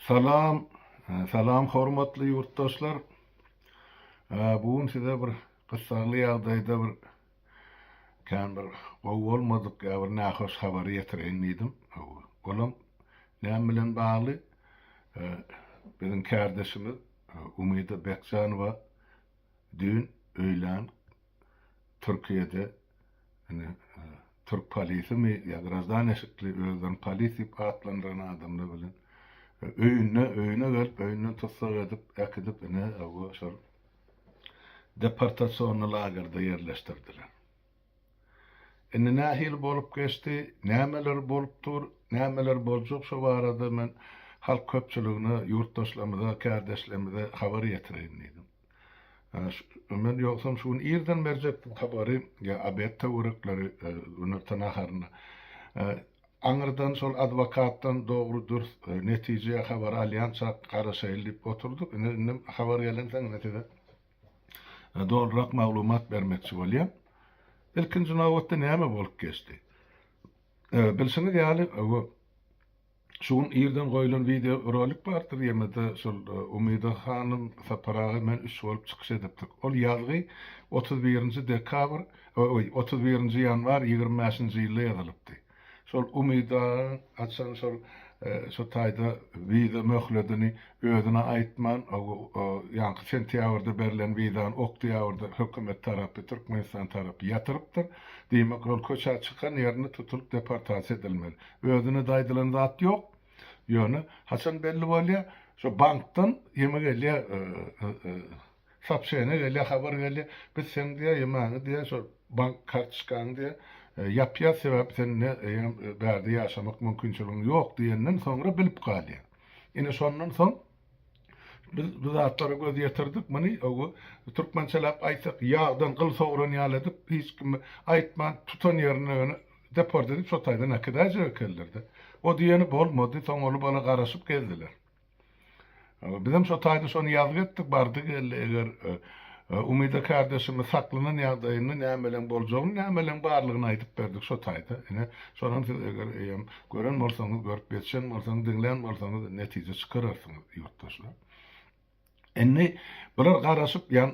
Salam, salam hormatly ýurtdaşlar. Bu gün size bir gyssagly ýagdaýda bir kän bir gowy bolmadyk ýa bir nähoş habary ýetireýin diýdim. Olam näme bilen bagly? Biziň kärdeşimiz Umyda Bekjanowa düýn öýlän Türkiýede Indi türk polisimi ýa graždane şekli özlerini polis diýip atlandyran adamlar bilen öýünde öýüne gelip öýünden tussag edip äkidip ine bu şol deportasionny lagerde ýerleşdirdiler. Indi nähili bolup geçdi, nämeler bolup dur, nämeler boljak şu barada men halk köpçüligine, ýurtdaşlarymyza, kärdeşlerimize habar ýetireýin diýdim. Men ýogsam şu gün irden berjekdim tabary, ýa obed töwerekleri, günorta naharyny. Aňyrdan şol adwokatdan dogry-dürs netije ýa habar alýança garaşaýyl diýip oturdyk. Ine, indi habar gelensoň indi size dolurak maglumat bermekçi bolýan. Ilkinji nobatda näme bolup geçdi? Bilşiňiz ýaly, bu Şu gün irden goýlan wideo rolik bardyr ýene-de şol Umyda hanym Sapar aga bilen üç bolup çykyş edipdik. Ol ýazgy otuz birinji dekabr, oý, otuz birinji ýanwar ýigrimi bäşinji ýylda ýazylypdy. Şol Umyt agaň haçan şol şu taýda wiza möhledini özüne aýtman, ýaňky sentýabrda berlen wizany oktýabrda hökümet tarapy, Türkmenistan tarapy ýatyrypdyr. Diýmek, ol köçä çykan ýerinde tutulyp deportasiýa edilmeli. Özüne daýdylan zat ýok. Ýöne haçan belli bolýar? Şo bankdan ýeme gelýär, sopşeniýa gelýär, habar gelýär. Biz seň diýýär, ýemäňi diýýär, şo bank kartoçkaňy diýýär, ýapýas, sebäbi sen ne eýýäm bärde ýaşamak mümkinçiligiň ýok diýenden soňra bilip galýar. Ine şondan soň. Biz bu zatlara göz ýetirdik, muny ogu türkmençeläp aýtsak, ýagdan gyl sogran ýaly edip, hiç kime aýtman, tutan ýerinde ýöne deport edip, şo taýdan äkidaýjak ekenler-de. O diýeni bolmady, soň ol bala garaşyp gezdiler. Bizem şo taýda şony ýazgy etdik, bardy-geldi, eger Umyda kärdeşimiz saklanan ýagdaýynda nämeleň boljagyny, nämeleň barlygyny aýdyp berdik şo taýda. Ine, şonuň siz eger eýýäm Gören bolsaňyz, görüp geçen bolsaňyz, diňlän bolsaňyz netije çykararsyňyz ýurtdaşlar. Indi bular garaşyp ýan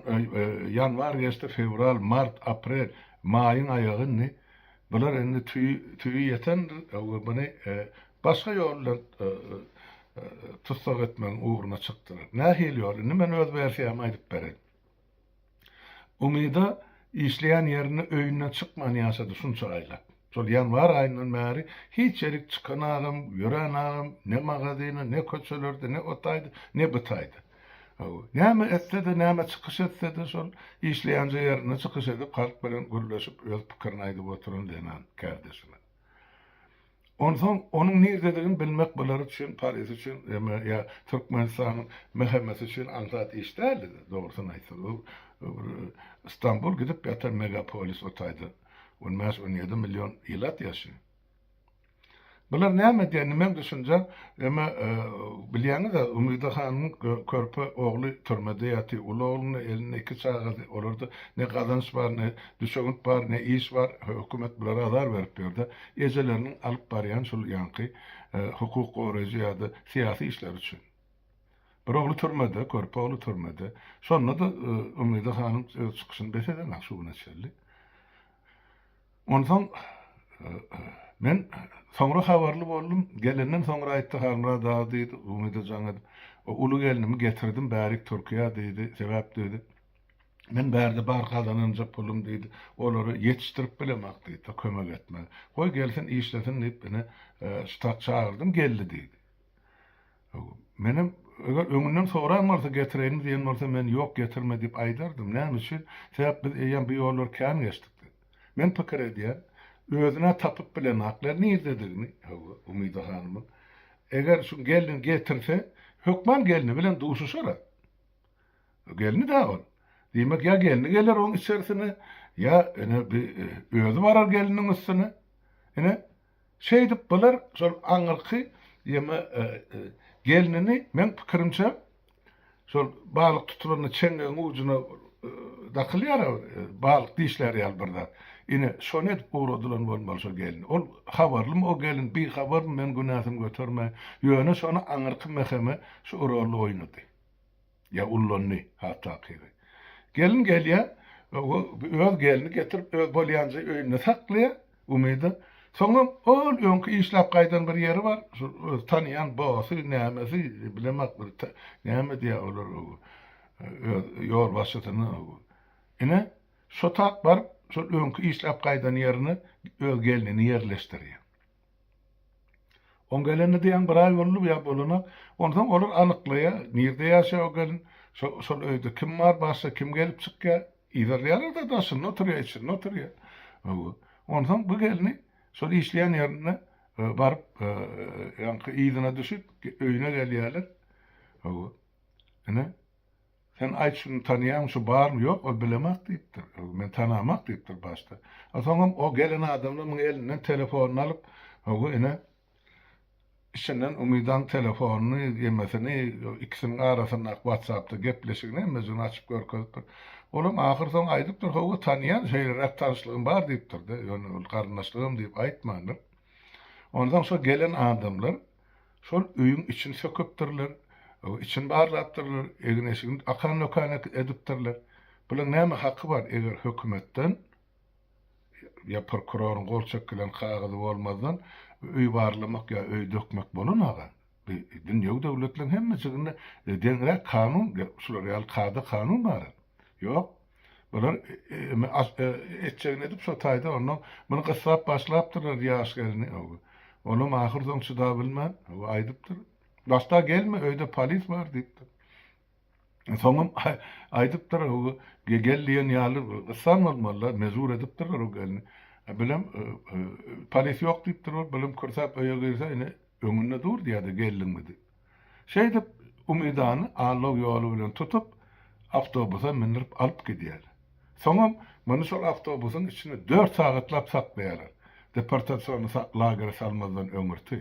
ýanwar geçdi, fewral, mart, aprel, maýyň aýagy indi. Bular indi tüýi tüýi ýetendir. Öňe buny başga ýol bilen tussag etmegiň ugruna çykdylar. Nähili ýol? Indi men öz wersiýamy aýdyp bereýin. Umyda işleýän ýerinde öýünden çykman ýaşady şunça aýlap. Şol ýanwar aýyndan bäri hiç ýerik çykan agam, ýörän agam, ne magazyna, ne köçelerde, ne o taýda, ne bu taýda. Näme etse-de, näme çykyş etse-de şol işleýänje ýerinde çykyş edip halk bilen gürleşip öz pikirini aýdyp oturan zenan kärdeşimiz. Onsoň onuň nirdedigini bilmek bular üçin, Paris üçin ýa Türkmenistanyň MHM-si üçin aňsat iş däldi, dogrusyny aýtsaň. Bu Stambul gidip ýatan megapolis o taýda on bäş, on ýedi million ilat ýaşaýar. Bular näme edýär, nimäň düşünje, emma bilýäňiz-ä, Umida hanyň körpe ogly türmede ýatyr, uly ogluny, elinde iki çagasy, olarda ne gazanç bar, ne düşewünt bar, ne iş bar, hökümet bulara azar berip ýör-de. Ejeleriniň alyp barýan şul ýaňky hukuk goraýjy ýa-da syýasy işleri üçin. Bir ogly türmede, körpe ogly türmede. Şonda-da Umyda hanym öz çykyşyny bes edemän şu güne çenli. Onsoň men soňra habarly boldum. Gelenden soňra aýtdy Halmyrat aga diýdi, Umyda jaň edip, uly gelnimi getirdim bärik Türkiýä diýdi. Sebäp diýdi. Men bärde bar gazananjak pulum diýdi. Olary ýetişdirip bilemok diýdi, kömek etmeli. Goý gelsin, işlesin diýip, ine, ştat çagyrdym, geldi diýdi. Menem, eger öňünden soran bolsa, getireýinmi diýen bolsa, men ýok, getirme diýip aýdardym. Näme üçin? Sebäp biz eýýäm bu ýollary kän geçdik diýdi. Men pikir edýän, özün-ä tapyp bilenoklar nirdedigini, hawa, Umyda hanymyň. Eger şu gelni getirse, hökman gelni bilen duşuşar-a. Gelni-dä ol. Diýmek, ýa gelni geler oň içersine, ýa, ine, bi özi barar gelniň üstüne. Ine, şeýdip bular şol aňyrky ýeme gelnini, meň pikirimçe, şol balyk tutulanda çeňňegiň ujuna dakylýar-a, balyk dişlär ýaly bir zat. Ine, şony edip ugradylan bolmaly şo gelni. Ol habarlymy o gelin, bihabarmy, men günäsini götermäýin. Ýöne şony aňyrky mäheme şu roly oýnady. Ýa ullandy, has takygy. Gelin gelýär, öz gelini getirip, öz bolýanja öýünde saklaýar, Umyda. Soňam ol öňki işläp gaýdan bir ýeri bar, şul öz tanaýan bosy, nämesi, bilemok bir näme diýýär olar, öz ýolbaşçysyna. Ine, şo tak baryp, şol öňki işläp gaýdan ýerine öz gelnini ýerleşdirýär. Oň gelenine diýýäň bir aý boldy ýa bolanak. Onsoň olar alyklaýa, nirde ýaşaýa o gelin, şo-şol öýde kim bar, başga kim gelip çykýa, yzarlaýarlar-da daşynda oturýa, içinde oturýa. Hawa. Onsoň bu gelni şol işleýän ýerinde baryp, ýaňky yzyna düşüp, öýüne gelýäler. Hawa. Ine. Sen aýt şuny tanaýaňmy, şu barmy? Ýok, ol bilemok diýipdir. Ýok, men tanamok diýipdir başda. A soňam o gelen adamlar munuň elinden telefonyny alyp, Hawa, ine, içinden Umydaň telefonyny, ýemesini, ikisiniň arasyndaky watsapda gepleşigini hemmejigini açyp görkezipdir. Olam ahyr soň aýdypdyr, Hawa, tanýan, şeýleräk tanyşlygym bar diýipdir-de, ýöne ol garyndaşlygam diýip aýtmandyr. Onsoň şo gelen adamlar. Şol öýüň içini söküpdirler, içini barlapdyrlar, egin-eşigini akan-dokan edipdirler. Bularyň näme haky bar, eger hökümetden ýa prokuroryň gol çekilen kagyzy bolmazdan öý barlamak ýa öý dökmek bolanmaga? Bu dünýewi döwletleriň hemme jiginde deňräk kanun, şular ýaly kada-kanun bar-a. Ýok. Bular etjegini edip şo taýda onnoň muny gyssap başlapdyrlar ýaş gelni ow. Onam ahyr soň çydabilmän ow aýdypdyr. Başda gelme öýde polis bar diýipdir. Soňam aýdypdyr ow gel diýen ýaly gyssan bolmalylar mejbur edipdirler o gelni. Bilem polis ýok diýipdir ol bilem kürsäp öýe girse ine öňünde dur diýýärdi geldiňmi diýip. Şeýdip, Umydany allaw ýoly bilen tutup, awtobusa mündürip alyp gidýär. Soňam muny şol awtobusyň içinde dört sagatlap saklaýarlar, deportasion lagere salmazdan öňürti.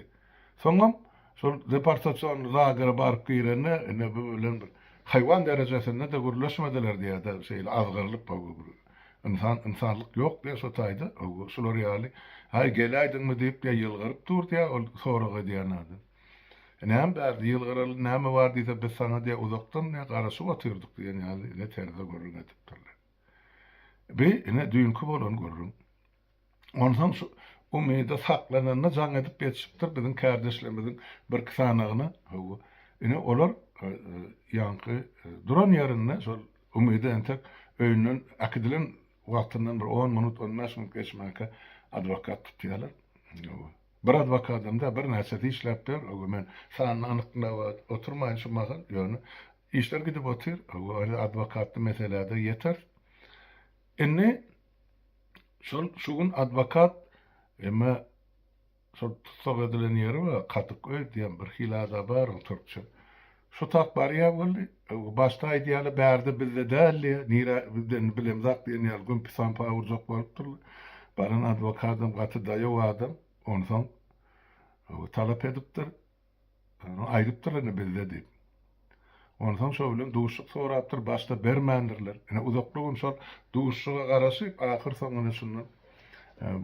Soňam şol deportasion lagere baryp girende, ine, bu bilen bir haýwan derejesinde-de gürleşmediler diýýär-de, şeýle azgyrylyp, hawa, bir ynsan, ynsanlyk ýok diýýär şo taýda, hawa, şular ýaly, Aý, geläýdiňmi diýip, ýylgyryp dur diýýär ol sorag edýän adam. Näme bärde ýylgyraly näme bar diýse, biz saňa diýe uzakdan diýe garaşyp otyrdyk diýen ýaly ine terze gürrüň edipdirler. Bi ine düýnki bolany gürrüň. Onsoň şu umyda saklananda jaň edip ýetişipdir biziň kärdeşlerimiziň birki sanagyna. Hawa, ine olar ýaňky duran ýerinde şol umydy entek öýünden äkidilen wagtyndan bir on minut, on bäş minut geçmänkä adwokat tutýarlar. Hawa. Bir adwokadym-da birnäçesi işläp ber, öwü men sanyny anyklap oturmaýyn şu mahal, ýöne işler gidip otyr, öwü ony adwokatly meselä-de ýeteris. Indi şol şu gün adwokat, emma şol tussag edilen ýeri we Kadyk öý diýen birhili ada bar oň türkçe. Şu tat barýa boldy. Başda aýdýaly bärde bizde däldi. Nirä bizde indi bilemzak diýen ýaly gümpi-sampa urjak bolup durly. Baran adwokadam gaty daýaw adam. Onsoň talap edipdir. Aýdypdyr indi bizde diýip. Onsoň şo bilen duşuşyk sorapdyr. Başda bermändirler. Ine uzakly gün şol duşuşyga garaşyp ahyrsoňunda şundan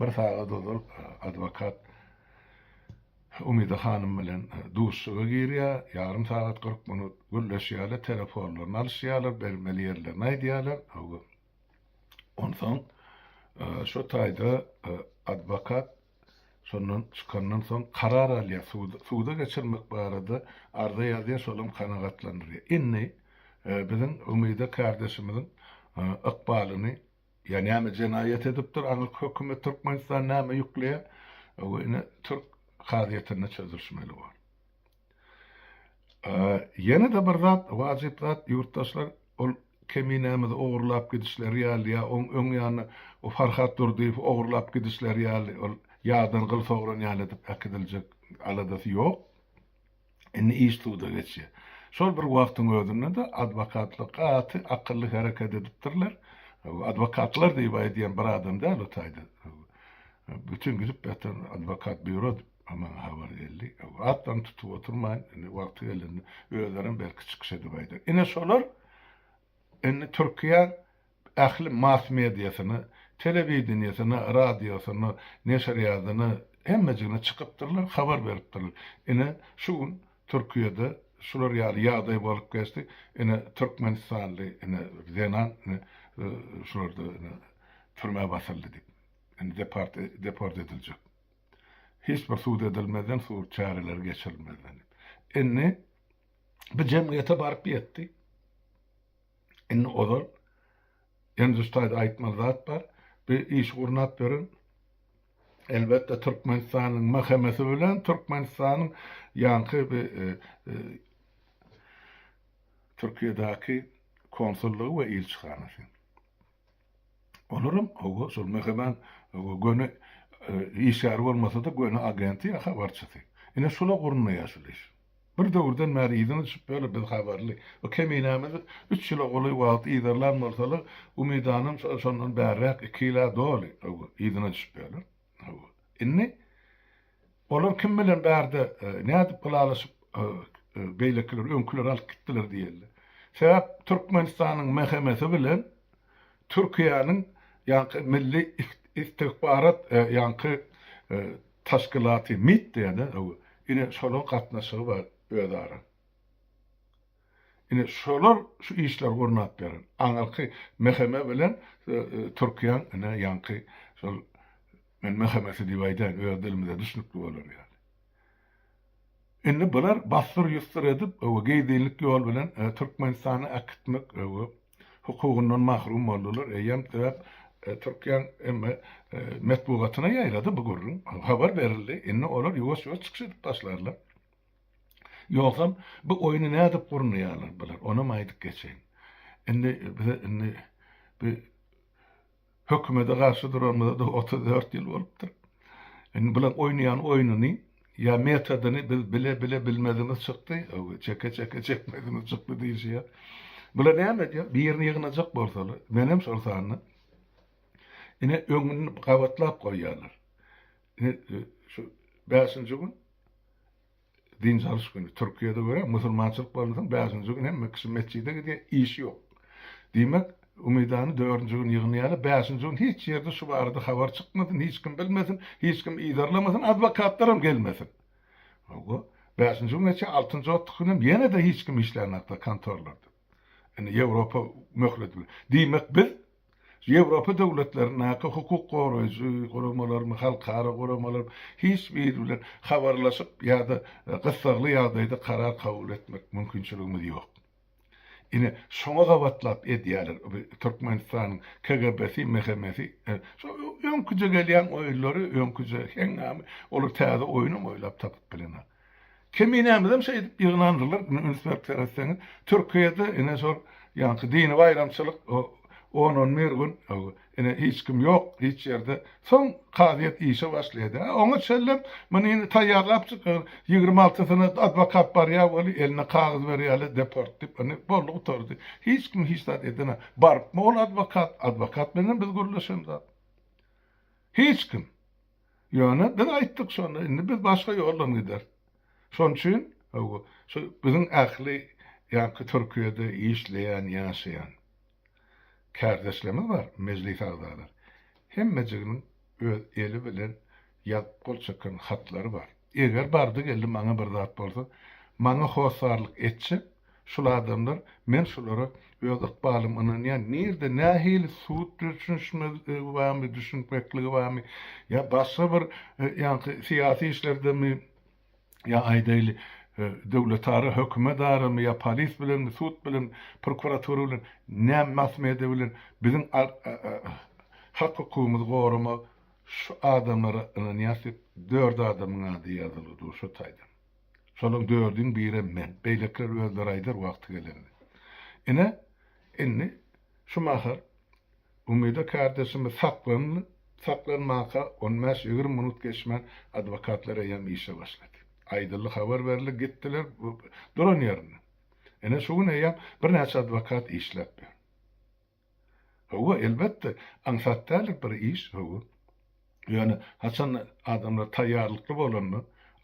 bir sagat ozal adwokat. Umyda hanym bilen duşuşyga girýär, ýarym sagat kyrk minut gürleşýärler, telefonlaryny alyşýarlar, bermeli ýerlerini aýdýarlar. Onsoň şo taýda adwokat şondan çykandan soň karar alýar, suda geçirmek barada arza ýazýar, şolam kanagatlandyrýar. Indi biziň Umyda kardeşimiziň ykbalyny Ýa näme jenaýat edipdir aňyrky hökümet Türkmenistan näme ýükleýär we ine türk kazyýetinde çözülişmeli bor. Ýene-de bir zat wajyp zat ýurtdaşlar ol keminämizi ogurlap gidişleri ýaly ýa oň öň ýanyna o Farhat Durdyýewi ogurlap gidişleri ýaly ol ýadan gyl sogran ýaly edip äkidiljek aladasy ýok. Indi iş suda geçýär. Şol bir wagtyň özünde-de adwokatlar gaty akylly hereket edipdirler. Adwokatlar diýip aýdýan bir adam däl o taýda. Bütin gidip ýatan adwokat býuro maňa habar geldi. Atlaryny tutup oturmaýyn, indi wagty gelende özlerem belki çykyş edip aýdar. Ine şolar indi Türkiýe ähli mass mediasyna, telewideniýesine, radiosyna, neşirýadyna, hemmejigine çykypdyrlar, habar beripdirler. Ine, şu gün Türkiýede şular ýaly ýagdaý bolup geçdi, ine, türkmenistanly, ine, zenan, ine, şularda, ine, türmä basyldy diýip, indi depart, deport ediljek. Hiç bir sud edilmezden, sud çäreleri geçirilmezden diýip. Indi bu jemgyýete baryp ýetdi. Indi ozal Endüstaýda aýtmaly zat bar. Bu işi gurnap beren elbetde Türkmenistanyň MHM-si bilen Türkmenistanyň ýaňky bi Türkiýedäki konsullygy we ilçihanasy. Olaram hawa şol Mehribän hawa göni işgäri bolmasa-da göni agenti ýa habarçysy. Ine şula gurnaýar şul iş. Bir döwürden bäri yzyny düşüp ýörler biz habarly. Bu keminämizi üç ýyla golaý wagt yzarlan bolsalar umydanam şondan bärräk iki ýyla doly hawa yzyna düşüp ýörler. Hawa. Indi Olar kim bilen bärde nädip ylalaşyp beýlekiler öňküleri alyp gitdiler diýeli. Sebäp Türkmenistanyň MHM-si bilen Türkiýäniň ýaňky milli istikbarat ýaňky taşkylaty mit diýýäde ine şolaň gatnaşygy bar özara. Ine şolar şu işleri gurnap beren aňyrky MHM bilen Türkiýäň ine ýaňky şol Men möhemesi diýip aýdaýyn, öz dilimize düşnükli bolar ýaly. Indi bular bassyr-ýussyr edip, öwü, gizlinlik ýol bilen Türkmenistana äkitmek, öwü, hukugyndan mahrum boldular. Eýýäm sebäp Türkiýäň emme metbugatyna ýaýrady bu gürrüň, habar berildi. Indi olar ýuwaş-ýuwaş çykyş edip başlarlar. Ýogsam, bu oýny nädip gurnaýarlar bular, onam aýdyp geçeýin. Indi bize indi bi, Hökümede garşy duranymyza-da otuz dört ýyl bolupdyr. Indi bularyň oýnaýan oýnuny ýa metodyny biz bile-bile bilmezimiz çykdy, öwgi, çeke-çeke çekmezimiz çykdy diýşi ýa. Bular näme edýär? Birini ýygnajak bolsalar, menem şol sanda, ine, öňüni gabatlap goýýarlar. Ine, şu bäşinji gün, Dynç alyş güni, Türkiýede görä musulmançylyk bolunsoň bäşinji gün hemme kişi metjide gidýär, iş ýok. Diýmek, Umydany dördünji gün ýygnaýarlar, bäşinji gün hiç ýerde şu barada habar çykmasyn, hiç kim bilmesin, hiç kim yzarlamasyn, adwokatlaram gelmesin. Hawa, bäşinji güne çenli, altynjy otuz günem ýene-de hiç kim işlänokda kontorlarda. Indi Ýewropa möhlet bilen. Diýmek, biz Ýewropa döwletlerindäki hukuk goraýjy guramalarmy, halkara guramalarmy hiç biri bilen habarlaşyp ýa-da gyssagly ýagdaýda karar kabul etmek mümkinçiligimiz ýok. Ine, şoňa gabatlap edýärler bu Türkmenistanyň KGB-si, MHM-si. Şu öňküje gelýän oýunlary, öňküje heňňamy, olar täze oýunam oýlap tapyp bilenok. Keminämizem şeýdip ýygnandylar. Indi üns berip seretseňiz, Türkiýede ine şol ýaňky dini baýramçylyk on-on bir gün ine hiç kim ýok hiç ýerde. Soň kazyýet işe başlaýdy. Oňa çenlem muny indi taýýarlapjyk ýigrimi altysyna adwokat barýar weli eline kagyz berýärler deport diýip. Indi boldy gutardy. Hiç kim hiç zat eden zat. Barypmy ol adwokat? Adwokat bilenem biz gürleşen zat. Hiç kim. Ýöne biz aýtdyk şony, indi biz başga ýoldan gideris. Şon üçin, hawa, şu biziň ähli ýaňky Türkiýede işleýän, ýaşaýan kärdeşlerimiz bar, mejlis agzalary. Hemmejiginiň öz eli bilen ýazyp gol çeken hatlary bar. Eger bardy-geldi maňa bir zat bolsa, maňa hossarlyk etjek şul adamlar, men şulara öz ykbalym ynanýan, nirde, nähili sud düşünişmezligi barmy, düşünmekligi barmy, ýa başga bir ýaňky syýasy işlerdemi, ýa aýdaýly, döwletara, hökümedaramy, ýa polis bilenmi, sud bilen, prokuratura bilen, näm mass-media bilen biziň hak-hukugymyzy goramak, Şu adamlara ynanýas diýip dört adamyň ady ýazylygy dur şu taýdan. Şolaň dördüň birem men. Beýlekiler özleri aýdar wagty gelende. Ine, indi şu mahal Umyda kardeşimiz saklandy. Saklanmaka on bäş, ýigrimi minut geçmän adwokatlar eýýäm işe başlady. Aýdyldy, habar berildi, gitdiler duran ýerinden. Ine şu gün eýýäm birnäçe adwokat işläp ýör. Hawa, elbetde, aňsat däl bir iş, hawa. Ýöne haçan adamlar taýýarlykly bolanda,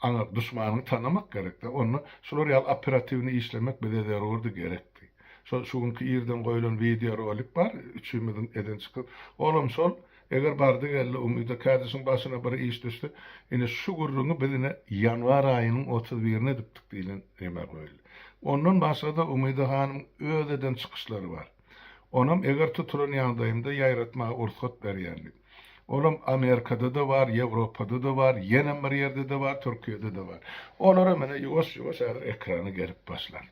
aňa duşmanyňy tanamak gerek-dä. Onda şular ýaly operatiwnyý işlemek bize zerurdy, gerekdi. Şo şu günki irden goýlan wideorolik bar, üçimiziň eden çykyş. Olam şol, eger bardy-geldi Umyda kädişiň başyna bir iş düşse, ine şu gürrüňi biz ine ýanwar aýynyň otuz birine edipdik diýlen neme goýuldy. Ondan başga-da Umyda hanyň öz eden çykyşlary bar. Onam eger tutulan ýagdaýymda ýaýratmaga ursat berýärdi. Olam Amerikada-da bar, Ýewropada-da bar, ýenem bir ýerde-de bar, Türkiýede-de bar. Olaram ine ýuwaş-ýuwaş häzir ekrana gelip başlan.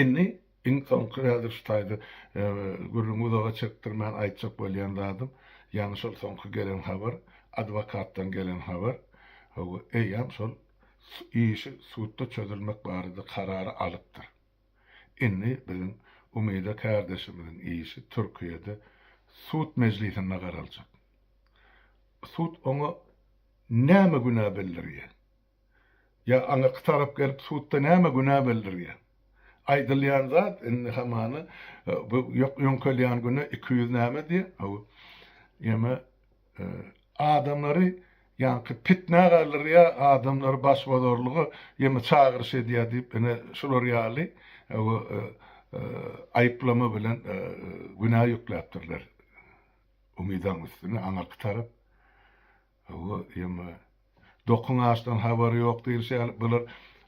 Indi iň soňky häzir şu taýda gürrüňi uzaga çekdirmän aýtjak bolýan zadym, ýaňy şol soňky gelen habar, adwokatdan gelen habar, hawa, eýýäm şol işi sudda çözülmek barada karary alypdyr. Indi biziň Umyda kärdeşimiziň işi Türkiýede sud mejlisinde garaljak. Sud oňa näme günä bildirýär? Ýa aňyrky tarap gelip sudda näme günä bildirýär? Aýdylýan zat indi hamana bu ýok ýöňkelýän günä iki ýüz näme diýýär? Hawa. Ýeme Adamlary ýaňky pitnä galdyrýa adamlary başbozarlyga ýene çagyryş edýä diýip ine şular ýaly ew aýyplama bilen günä ýükläpdirler umydaň üstüne aňyrky tarap ew ýeme Dokan açdan habary ýok diýlişi ýaly, bular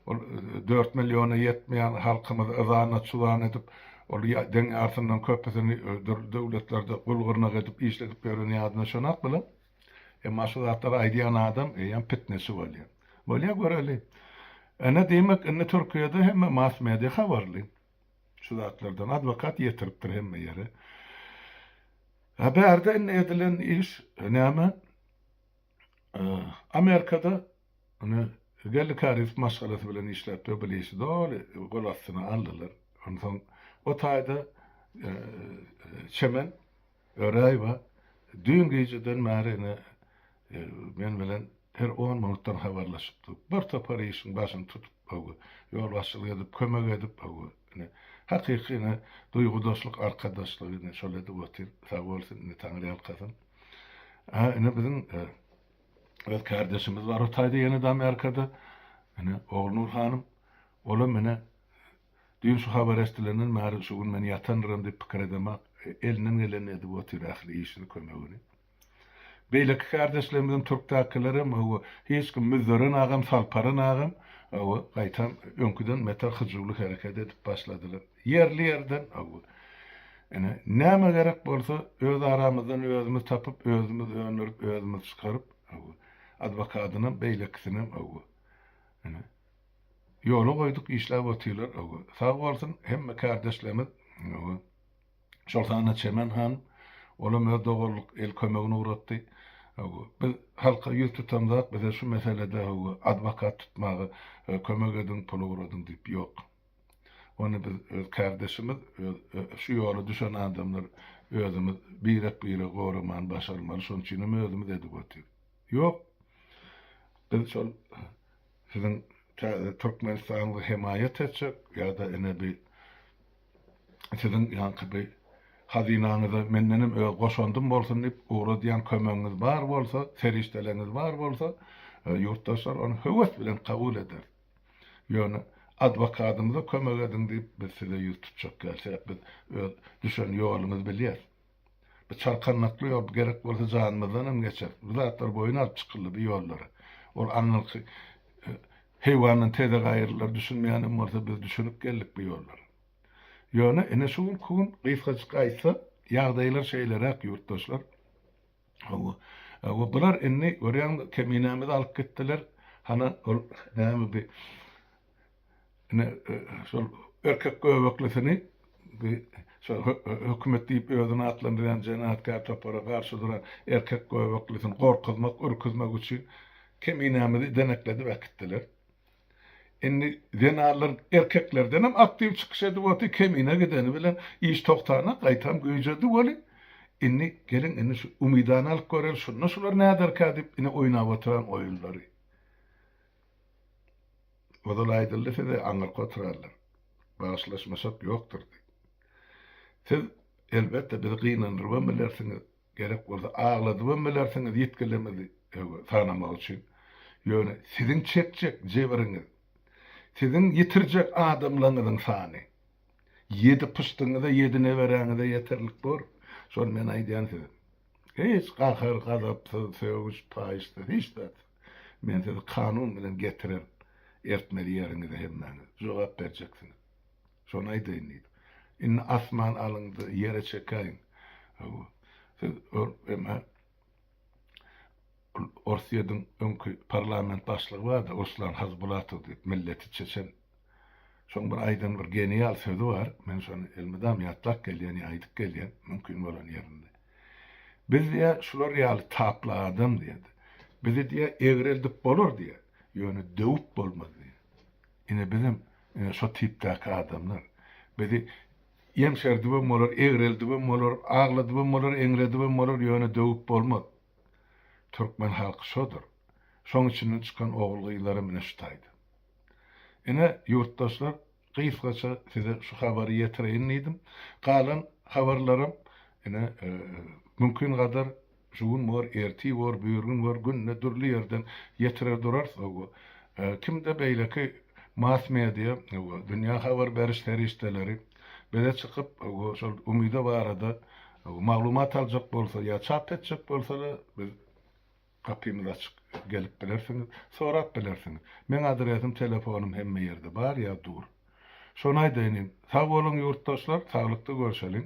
ol dört milliona ýetmeýän halkymyzy yzana-çuzan edip, ol deň ýarysyndan köpüsini dürli döwletlerde gul-gyrnak edip işledip ýören ýadyna şonok bular. Emma şu zatlary aýdýan adam eýýäm pitneçi bolýar. Bolýa göreli. Ine diýmek indi Türkiýede hemme mass media habarly şu zatlardan. Adwokat ýetiripdir hemme ýere. A bärde indi edilen iş näme? Amerikada ony Gelli Karif maşgalasy bilen işläpdir, bil işi doly gol astyna aldylar. Onsoň o taýda Çemen Öräýewa düýn gijeden bäri ine men bilen her on minutdan habarlaşyp dur. Bir topar işiň başyny tutup, hawa, ýolbaşçylyk edip, kömek edip, hawa, ine, hakyky ine duýgudaşlyk, arkadaşlyk ine şol edip otyr. Sag bolsun, ine Taňryýalkasyn. Ä ine biziň öz kärdeşimiz bar o taýda ýene de Amerikada. Ine Ognur hanym olam ine düýn şu habary eşdilenden bäri şu gün men ýatandyryn diýip pikir edemak elinden gelenini edip otyr ähli işini kömegini. Beýleki kärdeşlerimizem türkdäkilerem hawa hiç kim Müzzeren agam Salparan agam hawa gaýtam öňküden beter hyjuwly hereket edip başladylar. Ýerli-ýerden Ine, näme gerek bolsa, öz aramyzdan özümiz tapyp, özümiz öndürip, özümiz çykaryp, adwokadynam, beýlekisinem, ine, ýola goýduk, işläp otyrlar. Sag bolsun, hemme kärdeşlerimiz, şol sanda Çemen han, olam öz doganlyk el kömegini ugratdy. Biz halka ýüz tutamzok, bize şu meselede adwokat tutmaga kömek ediň, pul ugradyň diýip, ýok. Ony biz öz kärdeşimiz, öz şu ýola düşen adamlar özümiz birek-biregi goramany başarmaly, şonuň üçin hem özümiz edip otyr. Ýok. Biz şol siziň täze Türkmenistanyňyzy hemaýat etjek ýa-da ine bi siziň ýaňky bi hazynaňyza mendenem öz goşandym bolsun diýip ugradýan kömegiňiz bar bolsa, serişdeleriňiz bar bolsa, ýurtdaşlar ony höwes bilen kabul ederis. Ýöne adwokadymyza kömek ediň diýip, biz size ýüz tutjak dälseräk, biz öz düşen ýolumyzy bilýäs. Bu çarkandakly ýol, gerek bolsa janymyzdan hem geçeris. Bu zatlar boýun alyp çykyldy bu ýollara. Ol aňyrky heýwandan teze gaýyrlar düşünmeýän hem bolsa biz düşünip geldik bu ýollara. Ýöne ine şu günki gün gysgajyk aýtsak, ýagdaýlar şeýleräk ýurtdaşlar. Hawa. Hawa, bular indi, görýäňmi, Keminämizi alyp gitdiler. Hana, ol näme bi Ine, şol erkek göbeklisini bi şo hökümet diýip özüni atlandyrýan jenapkär topara garşy duran erkek göbeklisini gorkuzmak, ürküzmek üçin Keminämizi denekledip äkitdiler. Indi zenanlar erkeklerdenem aktiw çykyş edip otyr kemine gideni bilen iş togtana gaýtam güýjedi weli indi geliň indi şu umydany alyp göreli şunda şular näderka diýip ine oýnap otyran oýunlary ozal aýdyldy size aňyrky oturanlar bagyşlaşmasak ýokdur diýip siz elbetde bizi gynandyrybam bilersiňiz Gerek bolsa agladybam bilersiňiz ýitgilerňizi öňe sanamak üçin. Ýöne siziň çekjek jebiriňiz, siziň ýitirjek adamlaňyzyň sany ýedi pyşdyňyza, ýedi neberäňize ýeterlik bor. Şony men aýdýan size. Hiç gahar, gazapsyz, sögüş, paýyşsyz, hiç zat. Men sizi kanun bilen getirer, ertmeli ýeriňize hemmäňiz jogap berjeksiňiz. Şony aýdaýyn diýip. Indi asman alyňda ýere çekäýiň. Hawa. Siz emma Orsýediň öňki parlament başlygy bardy, Ruslan Hazbulatow diýip, milleti çeçen. Şoň bir aýdan bir genial sözi bar, men şony elmydam ýatlap gelýän ýa aýdyp gelýän, mümkin bolan ýerinde. Biz diýä şular ýaly tapla adam diýä. Bizi diýä egreldip bolar diýä, ýöne döwüp bolmaz diýä. Ine bizem ine şo tipdäki adamlar. Bizi ýeňşerdibem bolar, egreldibem bolar, agladybam bolar, eňredibem bolar, ýöne döwüp bolmaz. Türkmen halky şodur. Şoň içinden çykan ogul-gyzlaram ine şu taýda. Ine, ýurtdaşlar, gysgaça size şu habary ýetireýin diýdim. Galan habarlaram ine mümkingadar Şu gün bor, ertir bor, birigün bor, günde dürli ýerden ýetirer durarys, hawa. Kimde beýleki mass-media, hawa, dünýä habar beriş serişdeleri bize çykyp, hawa, şol umyda barada, hawa, maglumat aljak bolsa ýa çap etjek bolsalar, biz gapymyz açyk, gelip bilersiňiz, sorap bilersiňiz. Meň adresim, telefonym hemme ýerde bar ýa dur. Şony aýdaýyn, sag boluň ýurtdaşlar, saglykda görşeliň.